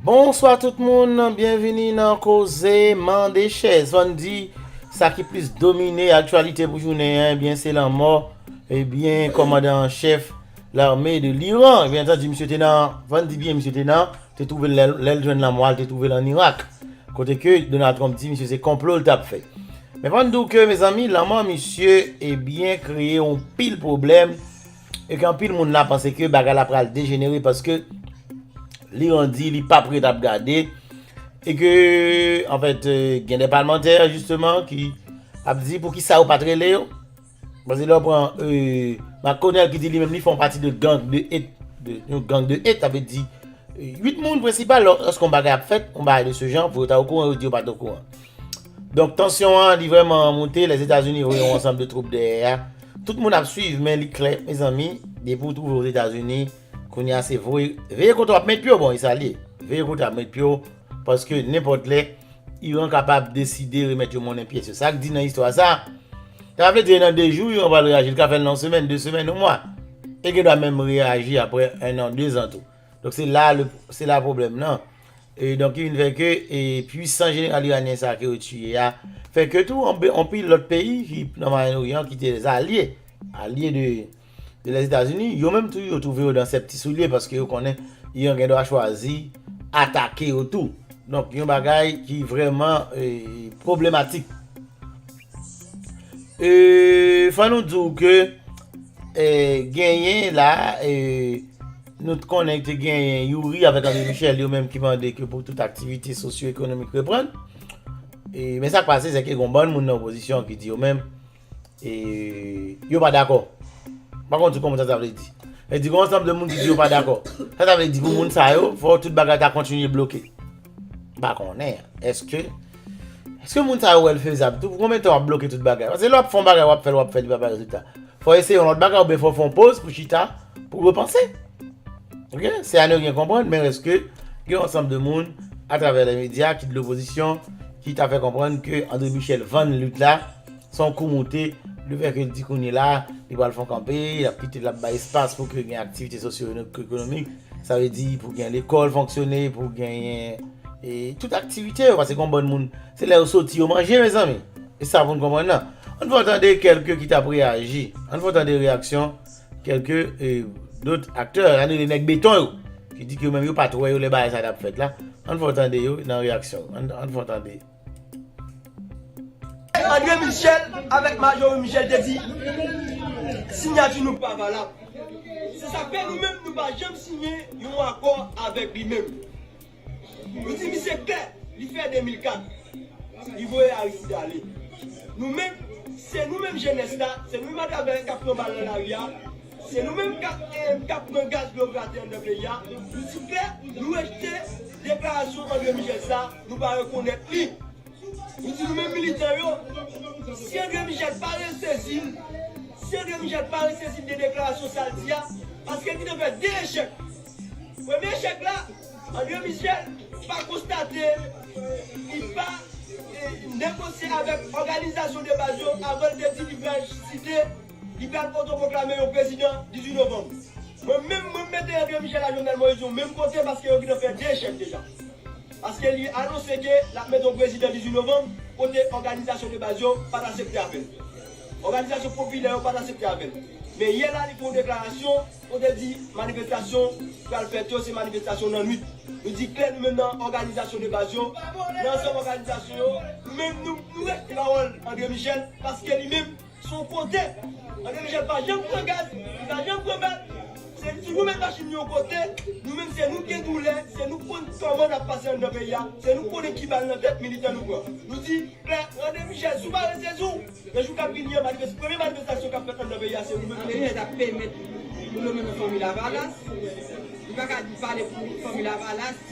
Bonswa tout moun, byenvini nan koze mande chèz. Fò n di, sa ki plis domine aktyalite pou jounen an, ebyen se lanmò, ebyen kòmandan an chèf lame de l'Iran. Byen entendi misye te nan, fò n di byen misye te nan, te twouve l, lè l jwenn lanmò a l te twouve l an Irak. Kote ke Donald Trump di misye se konplo l t ap fè. Men fò n di w ke mezanmi lanmò misye ebyen kreye yon pil pwoblèm E ke anpil moun la panse ke bagay la pral dejenere paske li randi li pap ret ap gade. E ke an fèt gen de palmantè jisteman ki ap di pou ki sa yo pat rele yo. Paske lè ou pran Makonèl ki di li menm li fon pati de gang de et. Yon gang de et avè di 8 moun prensipal lò oske yon bagay ap fèt yon bagay de se jan pou yo ta okouran yo di yo pat okouran. Donk tansyon an li vrèman moute, Lèzetazini voye yon ansanm de twoup dèyè a. Tout moun ap swiv men li klè mezanmi depi ou twouve w Ozetazini kounye a se voye veye kote w ap met pye w bon e sa l ye veye kote ap met pye w paske nenpòt lè Iran kapab deside remèt yo monnen pyès yo. Sa k di nan istwa sa sa pa vle di e nan 2 jou Iran pral reyaji li ka fè l nan yon semèn, 2 semèn, yon mwa e gendwa menm reyaji aprè 1 an, 2 zan tou. Donk se la le se la pwoblèm lan. E donk ki vin fè ke e pwisan jeneral iranyen sa ke yo tiye a, fè ke tou anpil lòt peyi ki nan Mwayen Oryan ki te zalye, alye de de Lèzetazini, yo menm tou yo twouve yo nan sèp ti soulye paske yo konnen Iran gen dwa chwazi atake yo tou. Donk yon bagay ki vrèman e pwoblematik. E fò nou di w ke e genyen la e Nou t konnen te genyen Youri avèk André Michel yo menm ki mande ke pou tout aktivite sosyo ekonomik reprann. E men sak pase se ke gon bann moun nan opozisyon ki di yo menm e yo pa dakò. M pa konn si w konprann sa sa vle di. Vle di gon ansanm de moun ki di yo pa dakò. Sa sa vle di pou moun sa yo fò tout bagay ta kontinye bloke. M pa konnen eske Eske moun sa yo wè l fezab tou pou konbyen tan w ap bloke tout bagay paske lè w ap fè yon bagay w ap fè l w ap fè l li pa bay rezilta fò w eseye yon lòt bagay oubyen fò w fè yon poz pou chita pou repanse ok se ane w gen konprann men rès ke gen yon ansanm de moun atravè lè medya ki de lopozisyon ki ta fè konprann ke André Michel vann lit la. Son kou moute, le fè ke l di kounye la, li pral fè yon kanpe, l ap kite, l ap bay espas pou ke gen aktivite sosyoekonomik, sa vle di pou gen lekòl fonksyone, pou genyen e tout aktivite yo, paske gen yon bann moun, se lè yo soti yo manje mezanmi, e sa pou n konprann nan. An n fè w tande kèlke ki t ap reyaji, an n fè w tande reyaksyon kèlke e dot aktè, an n rele nèg beton yo, ki di ke yo menm yo pa t wè yo lè bagay sa t ap fèt la, an n fè w tande yo nan reyaksyon yo, an n fè w tande. Andre Michel avèk Marjorie Michel te di sinyati nou pa valab. Se sa k fè nou menm nou pa janm siyen yon akò avèk li menm. Nou di misye klè, li fè 2004, li voye Aristide ale. Nou menm, se nou menm jenès la, se nou menm atravè k ap pran bal nan lari a, Se nou menm kap kap pran gaz blo grate anndan peyi a, nou di klè nou rejte deklarasyon Andre Michel sa, nou pa rekonèt li. Nou di nou menm militan yo, si Andre Michel pa resezi n, si Andre Michel pa resezi n de deklarasyon sa l di a, paske li te fè 2 echèk. Premye echèk la, Andre Michel pa konstate, li pa negosye avèk òganizasyon de baz yo avan l te di li pral site, Li pral otoproklame yon prezidan 18 novanm. Mwen menm, mwen mete André Michel ak Jovenel Moïse yon menm kote paske yo gintan fè 2 echèk deja. Paske li anonse ke lap mete yon prezidan 18 novanm kote òganizasyon de baz yo pat asepte avèl. Òganizasyon popilè yo pat asepte avèl. Men yè la li fè yon deklarasyon kote l di manifestasyon pral fèt yo se manifestasyon nan nwit. Nou di klè nou menm nan òganizasyon de baz yo, nan ansanm òganizasyon yo, nou menm nou respekte pawòl André Michel paske li menm, Son kote. Andre Michel pa janm pran gaz, li pa janm pran bal. Se si nou met machin nou yon kote, nou menm se nou k gen doulè, se nou k konn kòman n ap pase anndan peyi a, se nou k konnen ki bal nan tèt militan nou pran. Nou di, klè, Andre Michel, si w pa ranse sou w, nan jou k ap vini an, manifes, premye manifestasyon k ap fèt anndan peyi a, se ou menm k ap fè l. Andre Michel ta pèmèt moun yo mennen fanmi Lavalas. Li pa ka di pale pou fanmi Lavalas.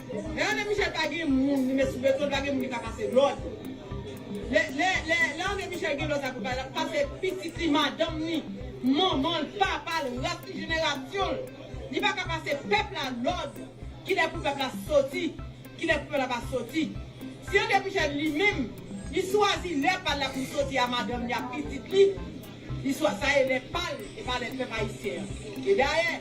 Rene Michel pa gen moun li met sou beton li pa gen moun li ka pase lòd lè Rene Michel gen lòd sa pou l bay lap pase pitit li madanm li manman l papa l ras li jenerasyon l li pa ka pase pèp la lòd kilè pou pèp la soti kilè pou pèp la pa soti si Rene Michel li menm li swazi lè pa l la pou l soti a madanm li a pitit li Istwa sa e lè pa l e pa lè pèp ayisyen an. E dayè,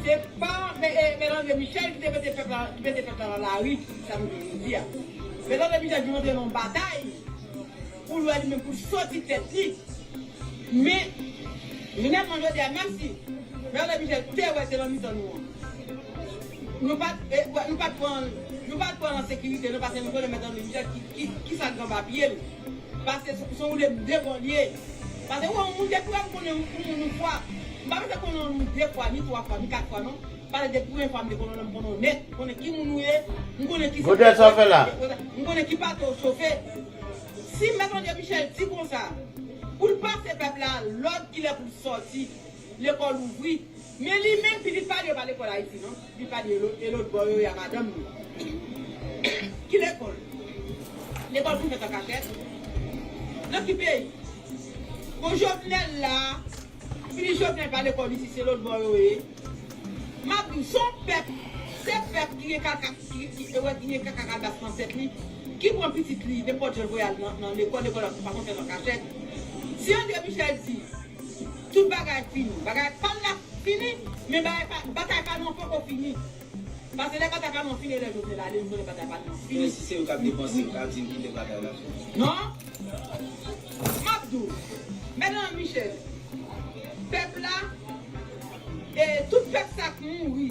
se pa Mèt Andre Michel ki te mete pèp la ki mete pèp la nan lari pou sa nou gen jodi a. Mèt Andre Michel vin rantre nan yon batay pou l wè li menm pou l soti tèt li. Men, finalman jodi a menm si Mèt Andre Michel te wè se nan mitan nou an nou pa t pran l an sekirite non paske nou konnen Mèt Andre Michel ki Ki sa gran papye l pase sou de de bò l ye pase ou wè yon moun depi wè m konnen yon moun yon fwa m pa bezwen konnen w ni de fwa ni twa fwa ni kat fwa non pase depi premye fwa m te konnen w la m konnen w nèt m konnen ki moun ou ye m konnen ki sa w ap fè m konnen ki pate w chofe si mèt André Michel di konsa pou l pase pèp la lòd kilè pou l sòti. Lekòl ouvri. Men li menm pitit pa li yo pa lekòl Ayiti non. Pitit pa li yo e lotbò yo e a madanm li. Ki lekòl? Lekòl pou fèt an kachèt? Nan ki peyi? Bon Jovenel la, pitit Jovenel pa lekòl isit se lotbò yo ye. M ap di w, se yon pèp, se pèp ki gen kaka, ki gen kaka kalbas nan tèt li, ki pran pitit li nenpòt jan l voye al nan lekòl, lekòl pa konn fèt an kachèt. Si André Michel di. Tout bagay fini. Bagay pa l la fini, men bagay pa, batay pa nou an poko fini. Pase lè batay pa nou an fini e lè Jovenel ale, m konnen batay pa nou an fini. Men si se yo k ap depanse, yo ka di yo ki lè batay la fini. Non. M ap di w. Mètnan Michel, pèp la, e tout pèp sa k mouri.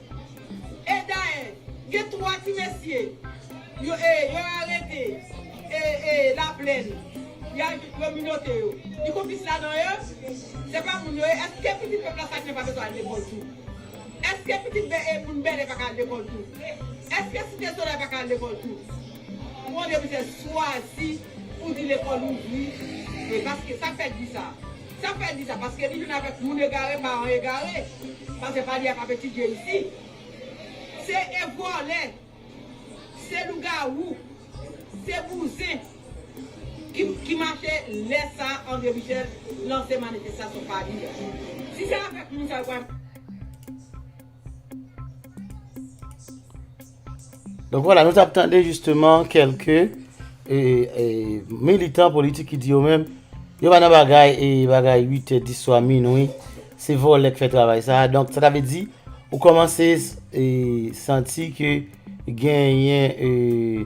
E dayè, gen 3 ti mesye yo e yo arete e e laplèn yo al vin yo minote yo. Li konplis ladan yo? Se pa moun yo ye? Eske pitit pèp Lasalinen pa bezwen al lekòl tou? Eske pitit bè e moun Bèlè pa ka al lekòl tou? Eske Site Solèy pa ka al lekòl tou? Mon Dye mizè, swazi pou di lekòl ouvri e paske sa k fè di sa? Sak fè di sa paske li vin avek moun egare paran egare paske fadya pap etidye isi se e volè se lougawou se bouzen ki mache lè sa andre michel lanse manifestasyon fadya si se avek moun sa yo pral Donk wala, nou tap tande jisteman kelke e, e, militan politik ki di yo menm, yo pa nan bagay e bagay 8 e 10 swa minwi, se volè k fè travay sa a, donk sa ta vle di, ou komanse e, santi ke. Genyen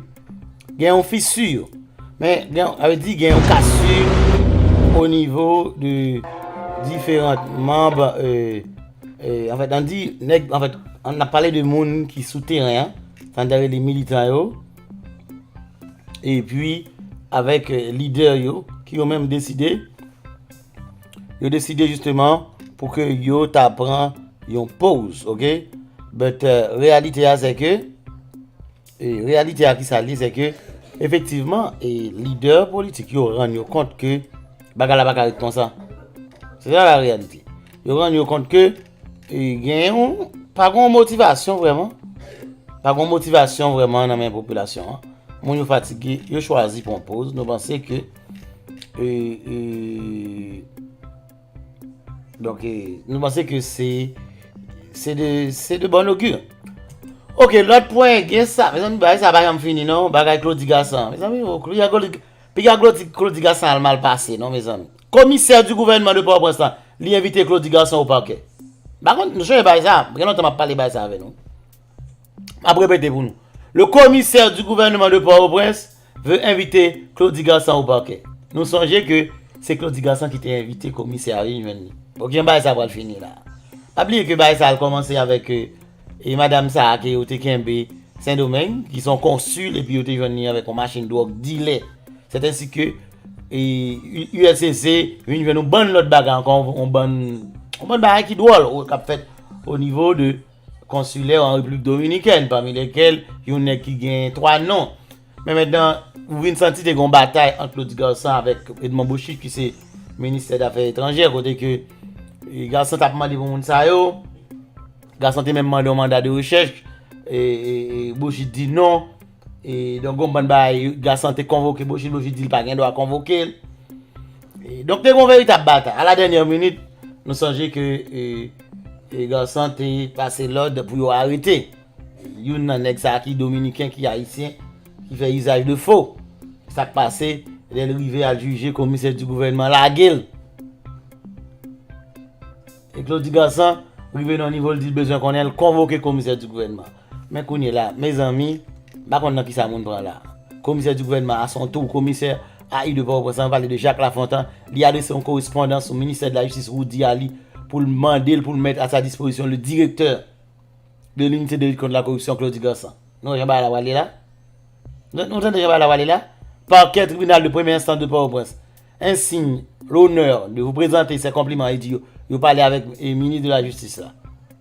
Gen yon fissure Men gen a di gen yon cassure au niveau de différentes membres euh, euh, en fait on dit nèg en fait on a parlé de moun ki sou teren an, tan dere li militan yo e pi avèk euh, lidè yo ki yo menm deside Yo deside jisteman pou ke yo ta pran yon poz, ok? But, reyalite a se ke, reyalite a ki sa li se ke, efektivman, e lidè politik yo rann yo kont ke bagay la pa ka ret konsa. Se sa la reyalite. Yo rann yo kont ke, e gen yon, pa gen yon motivasyon vreman, pa gen yon motivasyon vreman nan men popilasyon an. Moun yo fatige, yo chwazi pran poz, nou panse ke, Donk e nou panse ke se Se de Se de bon oky Ok lòt pwen gen sa Mezanmi bagay sa pa janm fini non Bagay Claudy Gassant Mezanmi o Piga Claudy Gassant al mal pase non mezanmi Komisè di gouvènman de Pòtoprens lan Li envite Claudy Gassant o pakè Ba konn nou sonje bagay sa Gen lontan m ap pale bagay sa avè nou M ap repete pou nou Le komisè di gouvènman de Pòtoprens Vle envite Claudy Garssan au parquet. Nou sonje ke se Claudy Garssan ki te envite komisè a vin jwenn li. Bon kijan bagay sa pral fini la? Pa bliye ke bagay sa al kòmanse avèk e madam sa a ke yo te kenbe Sendomeng, ki se yon konsul epi yo te jwenn li avèk yon machin dwòg dilè. Sèt ensi ke e uscc vin jwenn yon bann lòt bagay ankò, yon bann yon bann bagay ki dwòl kap fèt o nivo de. konsilè an Repiblik Dominikèn, pami lèkèl yon nèg ki gen 3 non. Men mètnan, ou vin santi te gen yon batay ant Claudy Garsan avèk Edmond Bocchit ki se Ministè Dafè Etranjè kote ke Garsan t ap mande pou moun sa yo. Garsan te menm mande yon manda de rechèch e Bocchit di non. E donk gon bann bagay Gassan te konvoke Bojil, Bojil di l pa gen dwa konvoke l. E donk te gon veritab batay. A la dènyè minit, nou sonje ke e Gassan te pase lòd pou yo arete youn nan nèg sa a ki dominiken, ki ayisyen, ki fè izaj de fo. Sa k pase, lè l rive al jije, komisè di gouvènman lage l. E Klodi Gassan rive nan yon nivo l di l bezwen konnen, l konvoke komisè di gouvènman. Men kounye la, mezanmi, m pa konn nan kisa moun pran la. Komisè di gouvènman a son tou komisè a i de Pòtoprens san pale de Jacques Lafontan, li adrese yon korespondans sou ministè de la jistis Roudy Aly pou l mande l pou l mèt a sa dispozisyon le direktè de l'unité de lutte contre la corruption Claudy Gansant. Nou wè jan bagay la prale la? Nou tande jan bagay la prale la? Parquet tribunal de première instance de Port-au-Prince en signe l'honneur de vous presenter ses compliments e di yo pale avèk minis de la jistis la.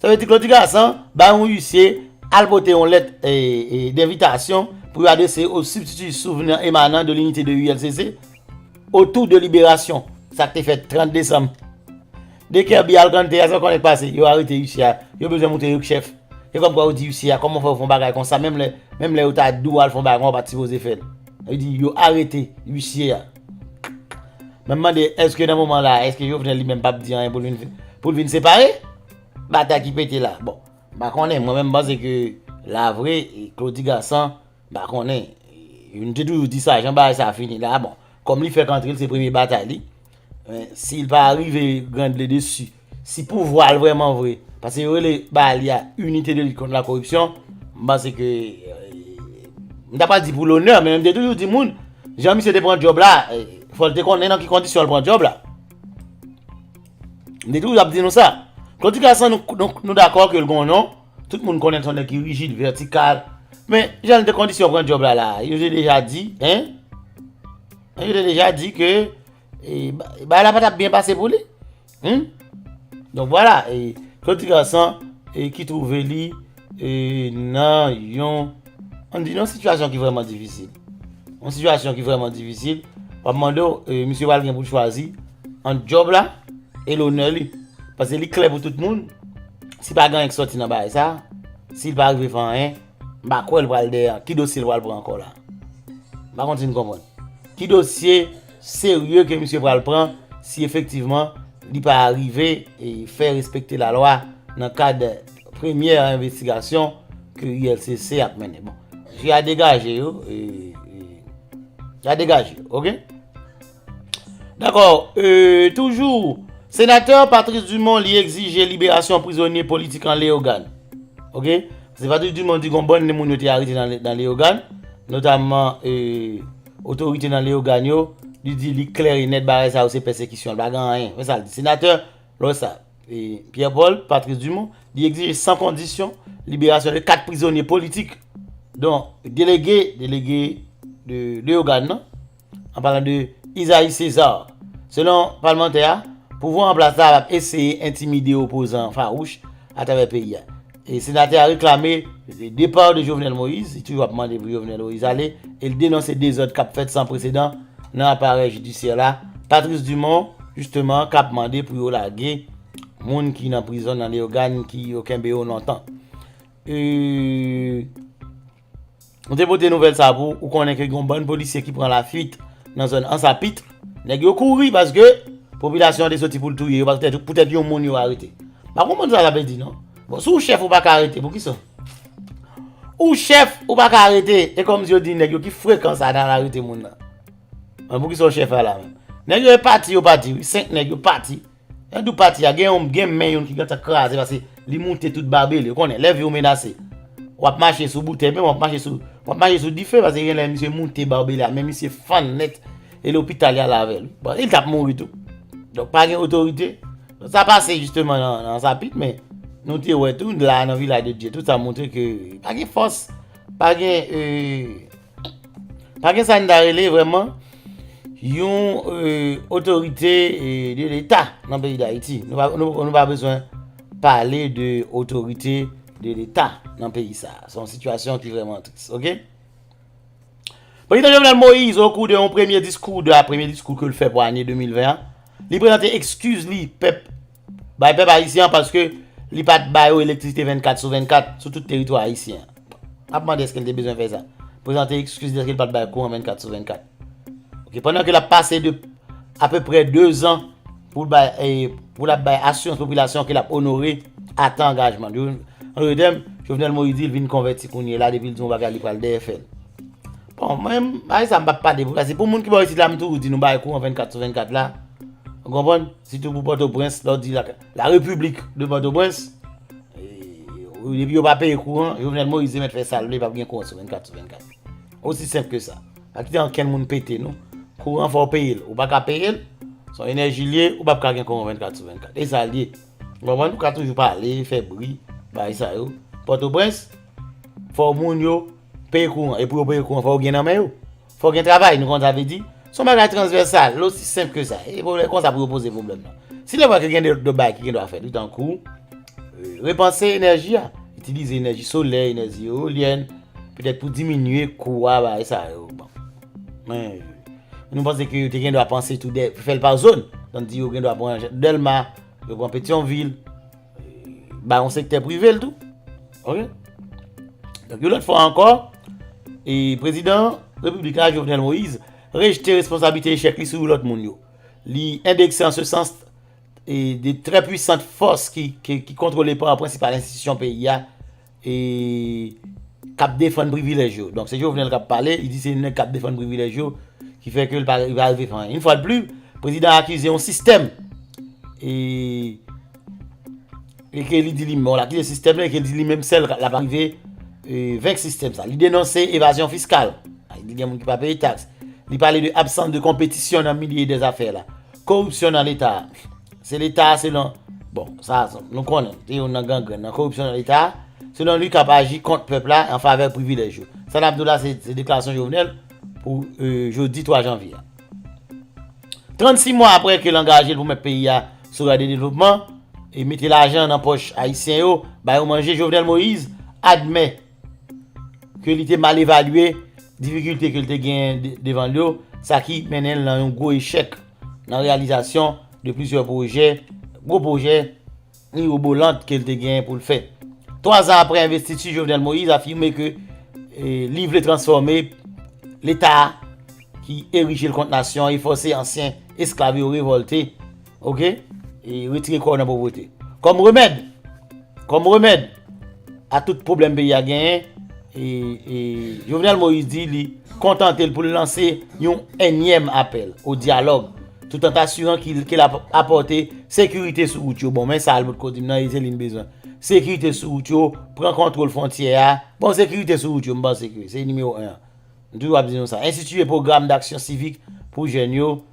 Sa vle di Claudy Gassant bay yon uisye al pote yon lèt denvitasyon pou yo adrese o sibstiti souvni emanan de linite de ULCC otou de liberasyon sa k te fèt 30 desanm. De Kerby al kanntè a, sa w konnen k pase? Yo arete uisye a, yo bezwen montre yo k chèf. E kòmkwa yo di uisye a, kòman w fè w fè yon bagay konsa menm lè yo ta di w al fè yon bagay konsa w pa t sipoze fè l. Sa vle di yo arete uisye a. Mwen m mande eske nan moman la, eske Jovenel li menm pap di anyen pou l vin separe? Batay ki pete la. Bon, m pa konnen. Mwen menm m panse ke la vre, Claudy Gassant, m pa konnen. Youn te toujou di sa, jan bagay sa fini la. Bon, kòm li fèk antre l, se premye batay li. Si l pa rive grande le dessus. Si pouvwa l vreman vre, paske yo rele bagay li a Unité de lutte contre la corruption, m panse ke, m ta pa di pou lonè, men m te toujou di moun, jan misye te pran djòb la, fò l te konnen nan ki kondisyon l pran djòb la. M te toujou ap di nou sa. Claudy Carson nou dakò ke l gen yon non, tout moun konnen l se yon nèg ki rijid, vètikal, men jan l te kondisyon pran djòb la la, yo te deja di, hein, yo te deja di ke bagay la pa t ap byen pase pou li. Humm Donk vwala e Claude ti gason e ki twouve li e nan yon an di nan sitiyasyon ki vrèman difisil. Yon sitiyasyon ki vrèman difisil. Wap mande w e misye pral gen pou l chwazi ant djòb la e lonè li. Pase li klè pou tout moun si pa gen anyen ki sòti nan bagay sa, si l pa rive fè anyen m pa kwè l pral dèyè. Ki dosye l pral pran ankò la? M pa konn si n konprann. Ki dosye? serye ke misye pral pran si efektivman li pa arive fè respekte la lwa nan kad premyè envestigasyon ke ULCC ap mennen. Bon, je a degaje yo, je a degaje yo, ok? Dakò, toujou, senatè Patrice Dumont li egzije liberasyon prizonye politik an Leyogàn. Ok? Se Patrice Dumont di gon bann de moun yo te arete nan Leyogàn, notamman e... Otorite nan Leyogàn yo, li di li klè e nèt bagay sa yo se pèsekisyon, li pa gen anyen. Men sa l di, Senatè, lè w wè sa, Pierre Paul, Patrice Dumont, li egzije san kondisyon liberasyon de 4 prizonye politik don delege, delege de Leyogàn nan, an palan de Isaïe César. Selon palmantè a, pouvwa an plas la ap eseye entimide opozan fawouch atravè peyi a. Senatè a reklame depar de Jovenel Moïse, li toujou ap mande pou Jovenel Moïse ale, e li denonse dezòd kap fèt san presedan nan aparèy jidisyè la. Patrice Dumont, jisteman, kap mande pou yo lage moun ki nan prizon nan Leyogàn ki yo kenbe yo lontan. Nou te pote nouvèl sa pou ou konnen ke gen yon bann polisye ki pran la fuit nan zòn Ansapitre. Nèg yo kouri paske popilasyon an te soti pou l touye yo paske poutèt yon moun yo arete. M pa konprann sa sa vle di non. Bon, si w chèf ou pa ka arete, poukisa ou chèf ou pa ka arete? E kòmsi yo di nèg yo ki frekan sa nan al arete moun nan? Poukisa w chèf a la menm? Nèg yo e pati yo pati wi, 5 nèg yo pati. Nan dou pati a gen yon gen men yon ki gentan kraze pase li moute tout babe li ou konnen lè viw menase wap mache sou boutèy menm wap mache sou wap mache sou dife pase gen lè misye moute babe li a men misye fann nèt e lopital yal avèl bon li tap mouri tou donk pa gen otorite donk sa pase jisteman nan sapit men nou te wè tou la nan vilay de dye tout sa moutre ke pa gen fòs pa gen ee. Pa gen sa n ta rele vrèman yon otorite de leta nan peyi dayiti. Nou pa bezwen pale de otorite de leta nan peyi sa. Se yon sitiyasyon ki vrèman tris. Ok? Prezidan Jovenel Moïse o kou de yon premye diskou, de a premye diskou ke l fè pou ane 2020 an, li prezante ekskiz li pèp Bay pèp ayisyen an paske li pa t ba yo elektrisite 24 sou 24 sou tout teritwa ayisyen an. M ap mande èske l te bezwen fè sa? Prezante ekskiz dèske l pa t bay kouran 24 sou 24. Ok, pandan ke l ap pase de apeprè 2 zan pou l bay e pou l ap bay asirans popilasyon ke l ap onore atan angajman l yo. An dote tèm, Jovenel Moïse di l vin konvèti kounye la depi l di yon bagay li pral dèyè fè l. Bon, mwen, bagay sa m pa p pale pou sa. Se pou moun ki ba yo isit la m toujou di nou bay kouran 24 sou 24 la. Ou konprann? Sitou pou Pòtoprens, lè w di la Repiblik de Pòtoprens, depi yo pa peye kouran, Jovenel Moïse mèt fè sa l vle, pa p gen kouran sou 24 sou 24. Osi senp ke sa. Pa kite ankenn moun pete nou. Kouran fò w peye l. Ou pa ka peye l, son enèji l ye, ou pa p ka gen kouran 24 sou 24. E sa l ye. Ou konprann? Ou ka toujou pale, fè bri, bagay sa yo. Pòtoprens, fò moun yo peye kouran. E pou yo peye kouran, fò yo gen nan men yo. Fò gen travay, nou konn sa vle di. Se yon bagay transvèsal, l osi senp ke sa. E pou lè konsa pou yo poze pwoblèm nan. Si lè vwa ke gen de lòt bagay ki gen dwa fèt wi tankou, repanse enèji a. Itilize enèji solè, enèzi eolyèn, petèt pou diminye kou a bagay sa yo. Bon. Men, nou panse ke yo te gen dwa panse tou de, fè l pa zòn. Tann di yo gen dwa pran Dèlma, yo pran Petyonvil. ba yon sektè prive l tou. Ok. Donk yon lòt fwa ankò, e prezidan Repiblik la Jovenel Moïse rejte responsablite echèk li sou yon lòt moun yo. Li endekse an se sans e de trè pwisant fòs ki kontwole pa prensipal enstitisyon peyi a. e kap defann privilèj yo donk se Jovenel kap pale li di se nèg kap defann privilèj yo ki fè ke li pa rive fè anyen yon fwa de pli prezidan akize yon sistèm e e ke li di li menm akize sistèm la e ke li di li menm sèl lap rive venk sistèm sa li denonse evazyon fiskal li di gen moun ki pa peye taks li pale de absans de konpetisyon nan milye de zafè la koripsyon nan leta Se leta a selon, bon sa nou konnen, se youn nan gangrenn nan koripsyon nan leta a, selon li kap aji kont pèp la an favè privilèj yo. Sa nap di w la se deklarasyon Jovenel pou jodi 3 janvye a. 36 mwa aprè ke l angaje l pou met peyi a sou ray de devlopman e mete lajan nan pòch ayisyen yo, ba yo manje, Jovenel Moïse admè. ke li te mal evalye difikilte ke li te genyen devan l yo, sa ki mennen l nan yon gwo echèk nan reyalizasyon de plizyè pwojè, gwo pwojè mirobolant ke li te genyen pou l fè. Twa zan apre envestiti Jovenel Moïse afime ke li vle transfòme leta ki erije l kont nasyon e fòse ansyen esklav yo revòlte, Ok e retire kò w nan povrete. Kòm remèd Kòm remèd a tout pwoblèm peyi a genyen e Jovenel Moïse di li kontante l pou l lanse yon enyèm apèl o dyalòg tout an tasiran ke l ap apòte sekirite sou wout yo bon men sa Albert Codim nan e se li n bezwen sekirite sou wout yo pran kontwòl fwontyè a bon sekirite sou wout yo m panse ke se nimewo 1 an m toujou ap di nou sa enstitiye pwogram daksyon sivik pou jèn yo.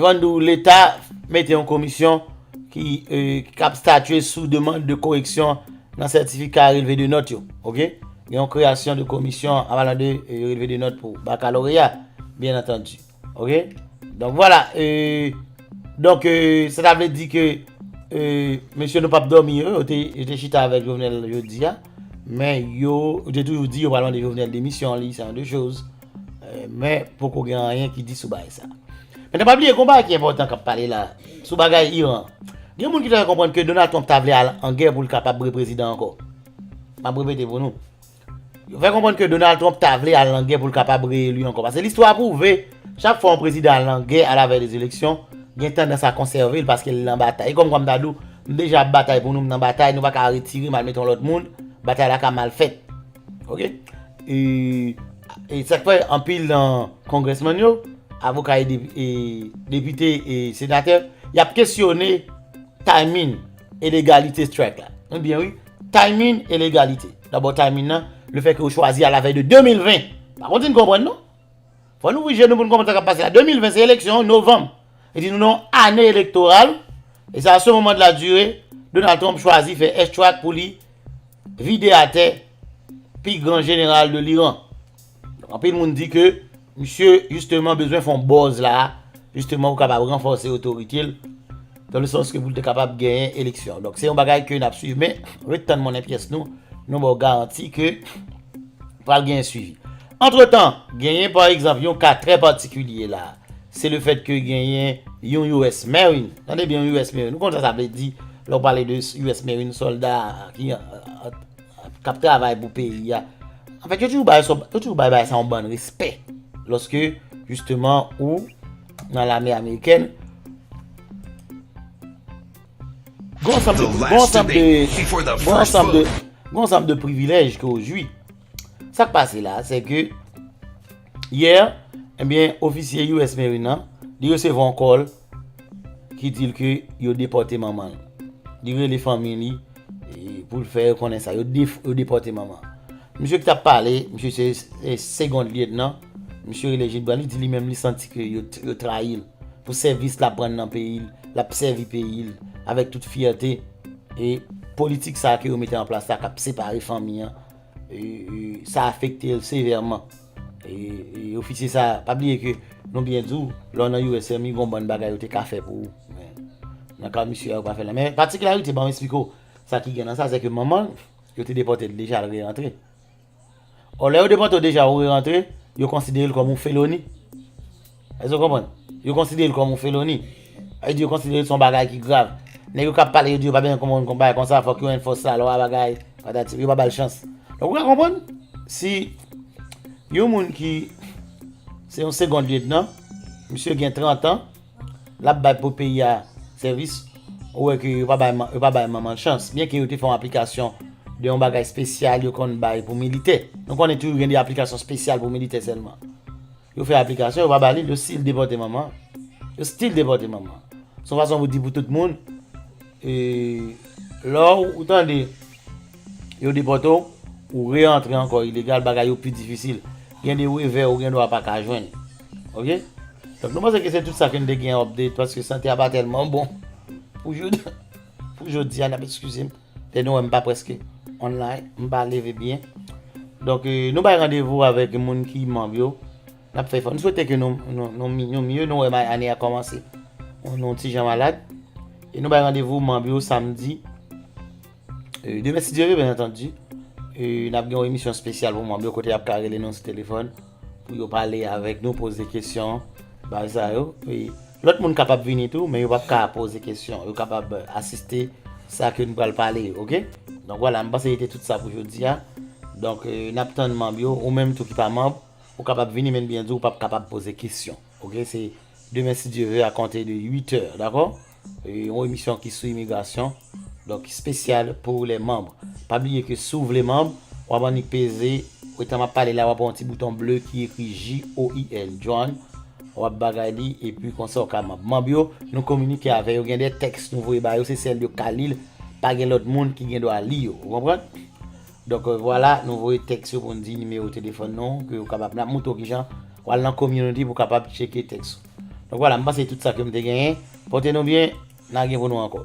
Vandou, Leta mete yon komisyon ki kap statye sou demand de koreksyon nan sètifika relve de nòt yo. Ok? Gen yon kreyasyon de komisyon an palan de relve de nòt pou bakaloreya, byen antandi. Ok? Donk vwala. Donk sa ta vle di ke mesye nou pap dòmi yo, yo te chita avèk Jovenel jodi a, men yo te toujou di yo pral mande Jovenel demisyon li, se yon de choz. Men poko gen anyen ki di sou bagay sa. Men nan pa bliye gon bagay ki enpòtan kap pale la sou bagay Iran. Gen moun ki ta fè konprann ke Donald Trump ta vle al an gè pou l kapab reprezidan ankò. Map repete pou nou. Yo fè konprann ke Donald Trump ta vle al an gè pou l kapab reyelu ankò. Pase listwa pwouve chak fwa yon prezidan al an gè a la vèy de eleksyon gen tandans a konsève l paske l nan batay. E kòm kwa m ta di w m deja ap batay pou nou m nan batay nou pa ka retire m al mete yon lòt moun batay la ka mal fèt. Ok E E sak fè anpil nan Congressman yo Avoka e e Depite e Senatè Yap kesyone Timing e legalite strike la Nou byen wi Timing e legalite Dabò timing nan Le fè ke yo chwazi a la vèy de 2020 Pa konte n konprann non Fò nou ouvri je nou pou nou konprann sa kap pase la. 2020 se eleksyon, novanm. Vle di nou nan yon ane elektoral, e sa a ce moment là dure, Donald Trump chwazi fè airstrike pou li vide atè pi gran jeneral de l'Iran. Donk anpil moun di ke misye jisteman bezwen fè yon buzz la a, jisteman pou kapab ranfòse otorite l. Dans le sens ke pou l te kapab genyen eleksyon. Donk se yon bagay ke n ap swiv. Men, ret tann monnen pyès nou, nou ba w garanti ke pral genyen swivi. Antretan, genyen pa egzanp yon ka trè patikilye la a. Se le fèt ke genyen yon US Marine. Tande byen, yon US Marine. Ou konn sa sa vle di lè ou pale de US Marine, sòlda ki ap travay pou peyi a. Anfèt, yo toujou bay bagay sa yon bann respè. Lòske, jisteman, ou. nan lame amerikèn. Gon sanm de, gon sanm de, gon sanm de, gon sanm de privilèj ke ou jwi. Sak pase la, se ke, yè, enbyen, eh ofisye US Marine nan, li resevwa yon kòl, ki dil ke yo depòte manman l. Li rele fanmi li. Pou l fè yo konnen sa. Yo depòte manman. Misye ki t ap pale, misye se segond lyetnan. Misye rele Gilbran. Li di li menm li santi ke yo trayi l pou sèvis l ap rann nan peyi l. L ap sèvi peyi l avèk tout fyète. E politik sa a ke yo mete an plas la k ap separe fanmi an. sa afekte l sevèman. Ofisye sa, pa bliye ke nou byen di w, lè w nan US Army gen yon bann bagay yo te ka fè pou ou. Nan ka misye a yo pa fè l nan. Men patikilarite ban m esplike w sa ki gen nan sa, se ke manman l, yo te depòte l deja, l re-rantre. Ò lè yo depòte w deja ou re-rantre, yo konsidere l kòm yon feloni. Èske nou konprann? Yo konsidere l kòm yon feloni. Yo di yo konsidere l se yon bagay ki grav. Nèg yo k ap pale yo di yo pa bezwen konprann yon bagay konsa, fòk yo enfòse lalwa bagay, patati. Yo pa ba l chans. Donk ou ka konprann si yon moun ki se yon segond lyetnan, misye gen trantan, l ap bay pou peyi a sèvis, ou wè ke yo pa bay manman l chans. Byenke yo te fè yon aplikasyon de yon bagay espesyal yo konn bay pou militè. Nou konnen toujou gen de aplikasyon espesyal pou militè sèlman. Yo fè aplikasyon yo pa ba li yo still depòte manman yo still depòte manman se yon fason pou di pou tout moun lè ou tande yo depòte w ou re antre ankò ilegal bagay yo pi difisil gen de revè ou gen dwa pa ka jwenn ok donk nou panse ke se tout sa ke nou te gen update paske sante a pa tèlman bon pou jodi a nap eskize m. E nou wè m pa preske online, m pa leve byen. Donk nou bay randevou avèk moun ki manm yo. N ap fè efò. M swete ke nou mye. Nou wè m ane a kòmanse. Nou ti jan malad. E nou bay randevou manm yo samdi. Demen si Dye ve, byen antandi. E n ap gen yon emisyon spesyal pou manm yo kote y ap ka rele nou sou telefòn. Pou yo pale avèk nou, poze kesyon, bay sa yo. Lòt moun kapab vini tou, men yo pap ka poze kesyon. Yo kapab asiste sa ke nou pral pale yo, ok? Donk wala, mwen panse se te tout sa pou jodi a. Donk, n ap tann manb yo. Ou menm tou ki pa manb, ou kapab vini men byen di ou pap kapab poze kesyon, ok? Se demen si Dye ve a konte de 8 è, dakò? Yon emisyon ki sou imigrasyon, donk spesyal pou lè manb. Pa bliye ke si w vle manb, wap annik peze, etan map pale la wap wè yon ti bouton ble ki ekri JOIN, Join, wap bagay li epi konsa w ka manb. Manb yo, nou kominike avè yo, gen de tèks nou voye ba yo, se sèl yo ka li l, pa gen lòt moun ki gen dwa li yo. Ou konprann? Donk vwala nou voye tèks yo pou n di nimewo telefòn nou ke ou kapab nan moutre w kijan w al nan community pou kapab tcheke tèks ou. Donk vwala m panse tout sa ke m te genyen. Pote nou byen, na gen pou nou ankò.